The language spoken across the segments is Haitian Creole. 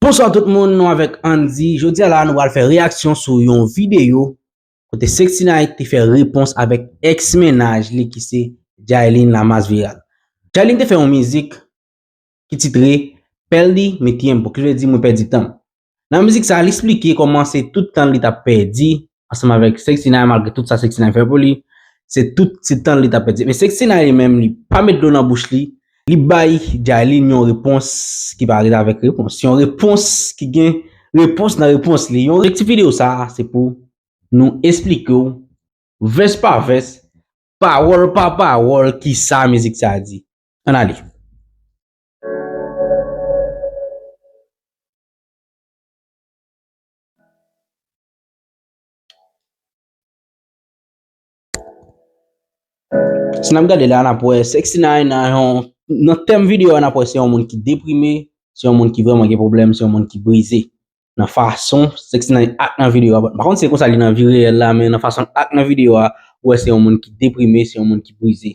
Bonswa tout moun nou avèk Andy, jodi a la nou pral fè reyaksyon sou yon videyo kote Sexy Night te fè repons avèk ex mennaj li ki se Jaylin la mass viral. Jaylin te fè yon mizik ki titre Perdi mi tiempo ki vle di mwen pèdi tanm. Nan mizik sa li esplike kòman se tout tan li tap pèdi ansanm avèk Sexy9 malgre tout sa Sexy9 fè pou li, se tout se tan li tap pèdi men Sexy9 li menm li pa met dlo nan bouch li, li bay Jayline yon repons ki pa ret avèk repons, yon repons ki gen repons nan repons li, yon repons. Ti video sa se pou nou esplike w vès pa vès, pawòl pa pawòl kisa mizik sa di. Ann ale. Si nan gade la, nan pou e Sexy 9 nan yon, nan tem video nan pou e se yon moun ki deprime, se yon moun ki vreman gen problem, se yon moun ki brize. Nan fason Sexy 9 ak nan video a, pa kont se konsa li nan vi reyel la, men nan fason ak nan video a, ou e se yon moun ki deprime, se yon moun ki brize.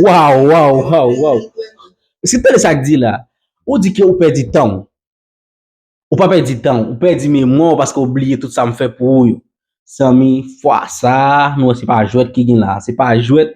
Waw waw waw waw Eske tande sak di la Ou di ke ou pèdi tan w Ou pa pèdi tan w Ou pèdi memwa w paske ou bliye tout sa m fè pou ou yo Zanmi fwa sa Nou wè se pa jwèt ki gen la Se pa jwèt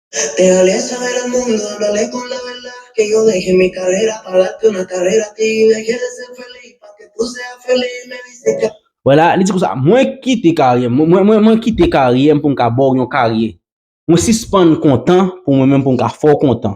Wela, li di konsa, Mwen kite karyè m, mwen kite karyè m pou m ka ba w yon karyè. Mwen sispann kontan pou mwen menm pou m ka fè w kontan.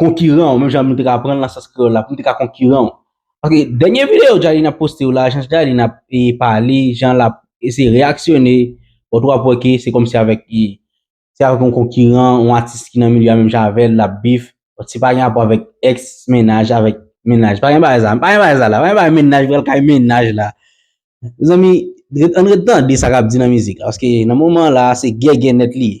konkiran w, menm jan nou te ka aprann nan sans kreyòl la, pou m te ka konkiran w. Paske dènye videyo Djaline ap poste yo la, jan Djaline ap pale, jan l ap eseye reyaksyone, ou tou ap wè ke se kòmsi avèk yon konkiran, yon atis ki nan milye a menm jan avè l, l ap bif. Se pa gen rapò avèk èks mennaj, avèk mennaj. Pa gen bagay sa. Pa gen bagay sa la. Pa gen bagay mennaj pral kay mennaj la. Mezanmi, ann ret tande sa k ap di nan mizik la. Paske nan moman la, se gègè nèt li ye.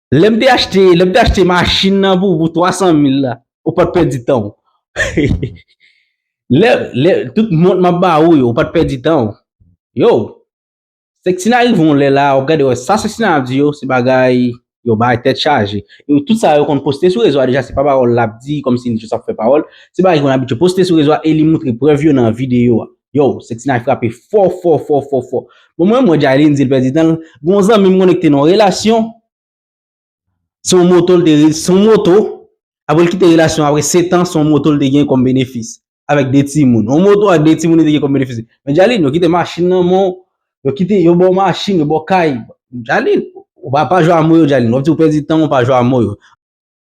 Lè m te achte, lè m te achte machin nan pou ou pou 300 mil la, ou pa t pèdi tan ou. Lè, lè, tout mont m ap ba ou yo, ou pa t pèdi tan ou. Yo! Sektina rive yon lè la, w ap gade wè sa Sektina ap di yo, se bagay yo bay tèt chaje. Yo tout sa yo konn poste sou rezo a deja se pa pawòl l ap di kòmsi li jis ap fè pawòl. Se bagay ki konn abitye poste sou rezo a e li moutre prèv yo nan videyo a. Yow, Sexinay frape fò fò fò fò fò. Bon mwen mwen Jaylin di l pèdi tan l, gon zanmi m konnen ki te nan yon relasyon, se yon moto l te se yon moto, aprè l kite relasyon an aprè setan se yon moto l te gen kòm benefis avèk 2 timoun. Yon moto ak 2 timoun li te gen kòm benefis. Men Jaylin, yo kite machin nan men w, yo kite, yo ba w machin, yo ba w kay. Jaylin, ou pa pa jwe a mo yo Jaylin, wap di ou pèdi tan w, ou pa jwe a mo yo.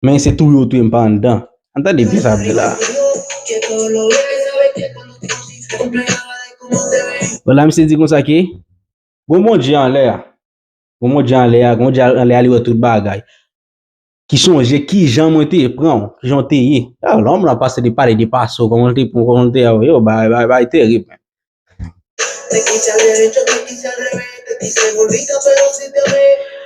Men se touye w touye m pa anndan. An tande byen sa ap di la. Bon la misye di konsa ke gon Bondye anlè a. Gon Bondye anlè a, gon Bondye anlè a li wè tout bagay. Ki sonje kijan mwen te pran w, kijan w te ye. Lòm la pase li pale de pase w, kòman l te pran w, kòman l te avè w, bay terib men.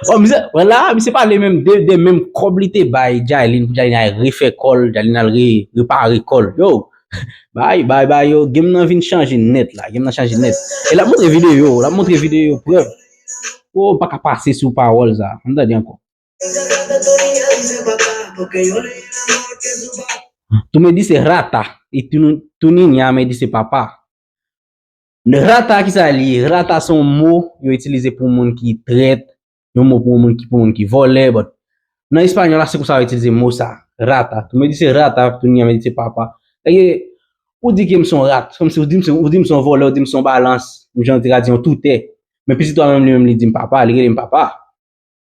Bon misye wè la misye pale menm de de menm kòb li te bay Jailin pou Jailin al refè kòl Jailin al re repare kòl yo bay bay bay yo game nan vin chanje nèt la game nan chanje nèt e la montre video la montre video preuve ou pa ka pase sou pawòl sa an tande ankò Tou me dise rata e tou ninya me dise papa. Rata ki sa li ye? Rata se yon mo yo itilize pou moun ki trèt, yon mo pou moun ki pou moun ki vòlè but nan espanyòl la se konsa yo itilize mo sa rata. Tou me dise rata e tou ninya me dise papa. Eke ou di ke m se yon rat, se kòm si ou di m se yon ou di m se yon vòlè, ou di m se yon balans, menm jan ou te ka di yon toutè. Men pitit ou a menm li menm li di m papa, li rele m papa.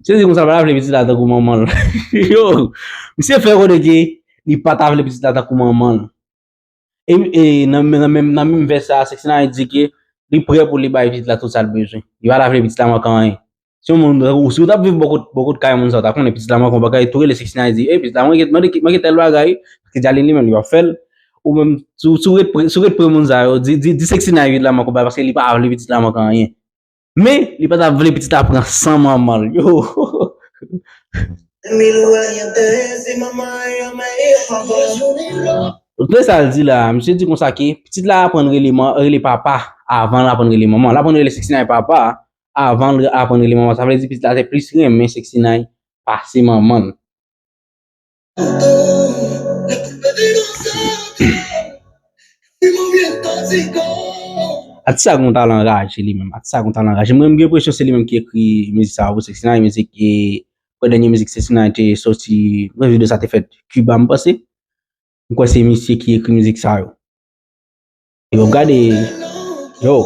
Sezi konsa l pa ta vle pitit la tankou manman l. Yo! Misye fè konnen ke li pa ta vle pitit la tankou manman l. E nan menm vès sa a, Sexnay di ke li prè pou li bay pitit la tout sa l bezwen. Li pa ta vle pitit la manke anyen. Si yon moun, tankou si w t ap viv bò kot kay moun sa a, w ta konnen pitit la manke yon bagay, tou rele Sexnay di, ey pitit la manke, manke tèl bagay, paske Djalin li menm li pa fè l. Ou menm, si w ret pre moun sa yo, di Sexnay pitit la manke yon bagay paske li pa vle pitit la manke anyen. Men, li pa ta vle pitit a pran san manman l. Ohoo. Tande sa l di la a, misye di konsa ke pitit la aprann rele papa avan l aprann rele manman. L aprann rele Sexinay papa avan l aprann rele manman. Sa vle di pitit la te plis renmen Sexinay pase manman l. Atis sa gon talan anraje li menm, atis sa gon talan anraje. Mwen m gen presyon se li menm ki ekri mizik sa pou 69 mizik e prè dènye mizik 69 te soti, prè video sa te fèt Cuba m panse. M kwè se misye ki ekri mizik sa yo. Yo gade, yo,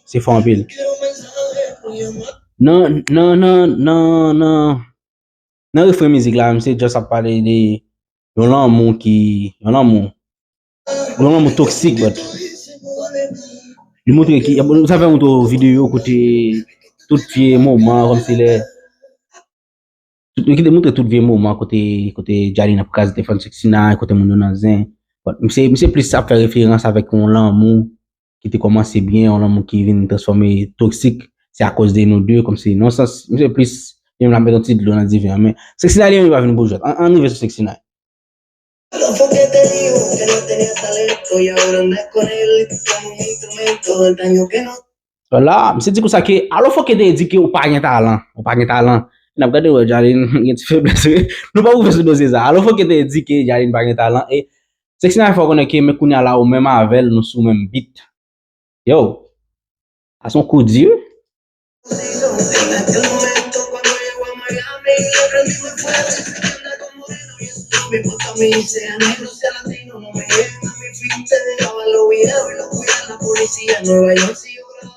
se fò anpil. Nan, nan, nan, nan, nan. Nan refren mizik la misye just ap pale de yon lanmou ki, yon lanmou, yon lanmou toksik but li montre ki, nou ta fè yon tou video kote tout vye moman kom si lè, nou kite montre tout vye moman kote, kote Djani nan kras defan sèk si nan, kote moun yo nan zen, misye, misye plis ap fè referans avèk yon lanmou. ki te komanse byen, yon lanmou ki vin transfòme toksik, se akòz de nou 2, kòmsi, nan yon sans, misye plis, li menm lap met yon ti dlo nan diven an, men, Sexinay li menm li pa vin pou jwèt, an rive sou Sexinay. La, misye di konsa ke, alo fòk yo te di ke ou pa gen talan, ou pa gen talan, e nap gade wè Djalin gen ti feblès wi, nou pa pou fè sou dosye sa, alo fòk yo te di ke Djalin pa gen talan e, Sexy Nine fè w konnen ke men kounya la ou menm avè l nou sou menm beat. Yow! Sa son kou di wi.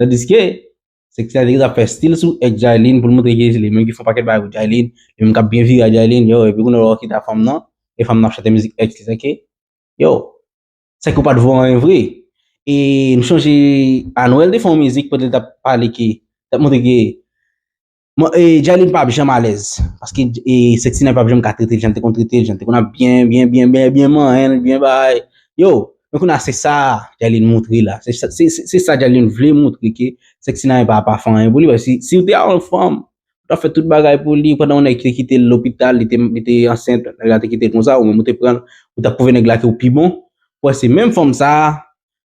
Tandiske, Sexy te ap fè stil sou ex Jailin pou l montre ke se li menm ki fè yon pakèt bagay pou Jailin, li menm k ap byen vire ak Jailin, yow epi kounye a ou kite ak fanm nan, e fanm nan ap chante mizik ex li sa ke, yow, sa ke ou pa t vo anyen vre. E m sonje Anuel te fè yon mizik kote li t ap pale ke, li t ap montre ke, Jaylin pap janm alèz, paske Sexy nan pap janm ka tretel jan li te konn tretel, jan li te konn ap byen, byen, byen, byen, byen manyenl, byen bay, yo, men kounya se sa Jaylin moutre la, se sa Jaylin vle moutre ke Sexy nan pa pa fè anyen pou li, paske si ou te yon fanm, ou ta fè tout bagay pou li, pandan yon nèg te kitel lopital, li te ansent, nèg la te kitel konsa, ou menm ou te pranl, ou tap pwouve nèg la ke ou pi bon, wè se menm fanm sa,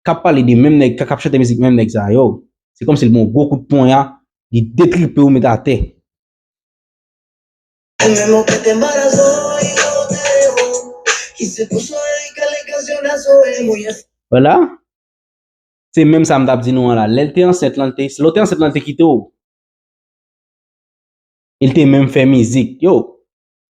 kap pale de menm nèg kap chante mizik menm nèg sa yo, se kòmsi l ban w gwo kout ponya, li detripe w met atè. Wala! Se menm sa m tap di nou an la, lè l te ansent lan, se lè w te ansent lan l te kite w. E l te menm fè mizik. Yo!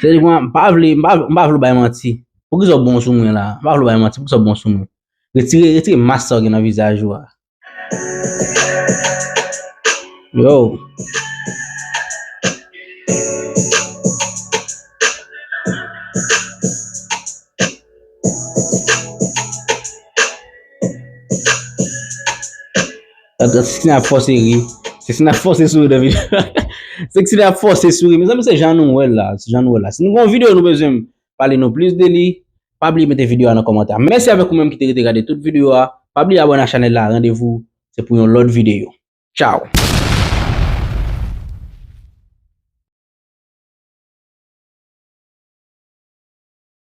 Sè di mwen, m pa vle, m pa vle w bay manti. Poukisa w bon sou mwen la? M pa vle w bay manti, poukisa w bon sou mwen? Retire, retire mas sa w gen nan vizaj ou a. Yo. Seksi nan fòse ri. Seksi nan fòse souri de video. Seksi nan fòse souri. Mezanmi se jan nou wè la. Se jan nou wè la. Si nou gon video nou bezwen pale nou plis de li. Pa bliye mete video a nan komantè a. Mèsi avèk ou menm ki te rete gade tout video a. Pa bliye abone a chanèl la. Randevou se pou yon lòt video. Tchao!